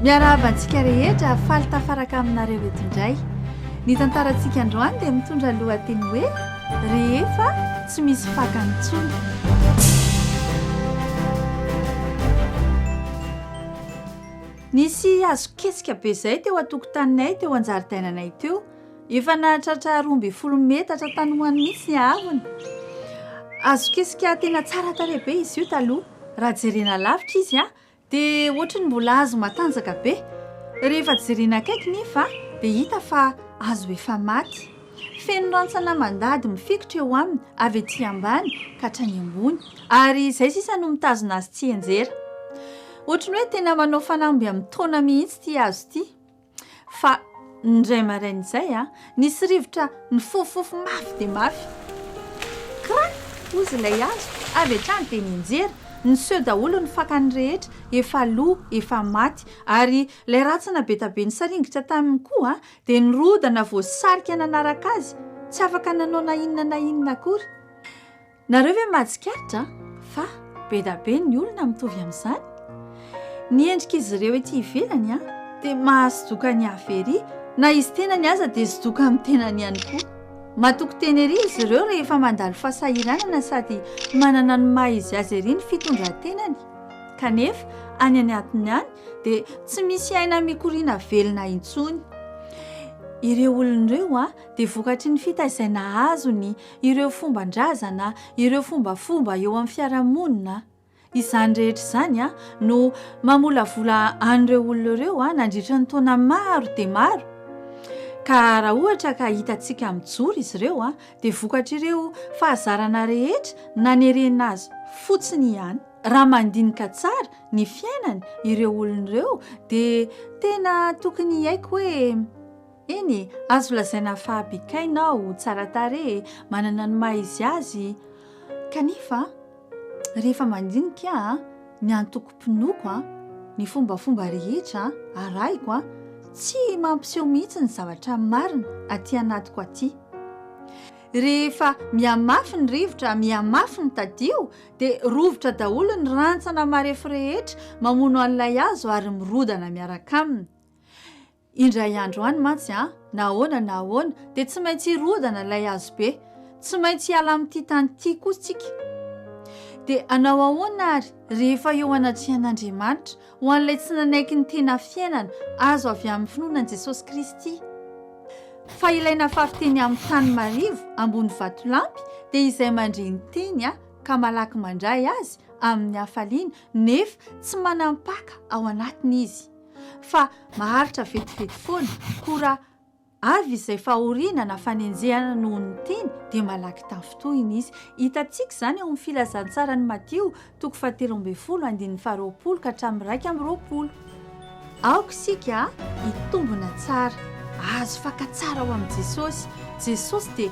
Miarahaba antsika rehetra, faly tafaraka aminareo eto indray. Ny tantarantsika androany dia mitondra lohateny hoe rehefa tsy misy fakany intsony. Nisy hazo ketsika be izay teo an-tokotaninay teo an-jaridainanay teo. Efa nahatratra roa ambin'ny folo metatra tanoany mihitsy ny haavony. Azo kesika tena tsara tarehy be izy io taloha. Raha jerena lavitra izy dia ohatry ny mbola azo matanjaka be. Rehefa jerena akaiky nefa dia hita fa azo efa maty. Feno rantsana mandady mifikitra eo aminy avy ety ambany ka hatrany ambony ary izay sisa no mitazona azy tsianjera. Ohatry ny hoe tena manao fanamby amin'ny taona mihitsy ity hazo ity. Fa indray maraina izay, nisy rivotra nifofofofo mafy dia mafy. Krak! hozy ilay hazo. Avy hatrany dia nianjera. Niseho daholo ny fakany rehetra, efa lo, efa maty. Ary ilay rantsana be dia be nisaringitra taminy koa dia nirodana voasarika nanaraka azy, tsy afaka nanao na inona na inona akory. Nareo ve mahatsikaritra fa be da be ny olona mitovy amin'izany? Ny endrik'izy ireo ety ivelany a, dia mahasodoka ny hafa ery, na izy tenany aza dia sodoka amin'ny tenany ihany koa. Matoky tena ery izy ireo rehefa mandalo fahasahiranana sady manana ny maha izy azy ery ny fitondran-tenany, kanefa any anatiny any dia tsy misy aina mikoriana velona intsony. Ireo olona ireo dia vokatry ny fitaizana azony. ireo fomban-drazana, ireo fombafomba eo amin'ny fiarahamonina. Izany rehetra izany no mamolavola an'ireo olona ireo nandritra ny taona maro dia maro. Ka raha ohatra ka hitantsika mijoro izy ireo dia vokatr'ireo fahazarana rehetra nanerena azy fotsiny ihany. Raha mandinika tsara ny fiainany ireo olona ireo dia tena tokony hiaiky hoe Eny, azo lazaina fa bikaina aho, tsara tarehy, manana ny maha izy azy, kanefa rehefa mandinika ny antokom-pinoako, ny fombafomba rehetra arahiko, tsy mampiseho mihitsy ny zavatra marina aty anatiko aty. Rehefa mihamafy ny rivotra, mihamafy ny tadio, dia rovitra daholo ny rantsana marefo rehetra mamono an'ilay hazo ary mirodana miaraka aminy. Indray andro any mantsy an, na ahoana na ahoana dia tsy maintsy hirodana ilay hazobe. Tsy maintsy hiala amin'ity tany ity koa isika. Dia hanao ahoana àry, rehefa eo anatrian'Andriamanitra, ho an'ilay tsy nanaiky ny tena fiainana azo avy amin'ny finoana an'i Jesosy Kristy, fa ilay nafafy teny amin'ny tany marivo ambony vatolampy, dia izay mandre ny teny ka malaky mandray azy amin'ny hafaliana, nefa tsy manam-paka ao anatiny izy? fa maharitra vetivety foana, koa raha avy izay fahoriana na fanenjehana noho ny teny dia malaky tafintohina izy. Hitantsika izany ao amin'ny filazantsaran'i Matio, toko fahatelo ambin'ny folo, andininy faharoapolo ka hatramin'ny iraika amby roapolo. Aoka isika hitombina tsara, hahazo faka tsara ao amin'i Jesosy. Jesosy dia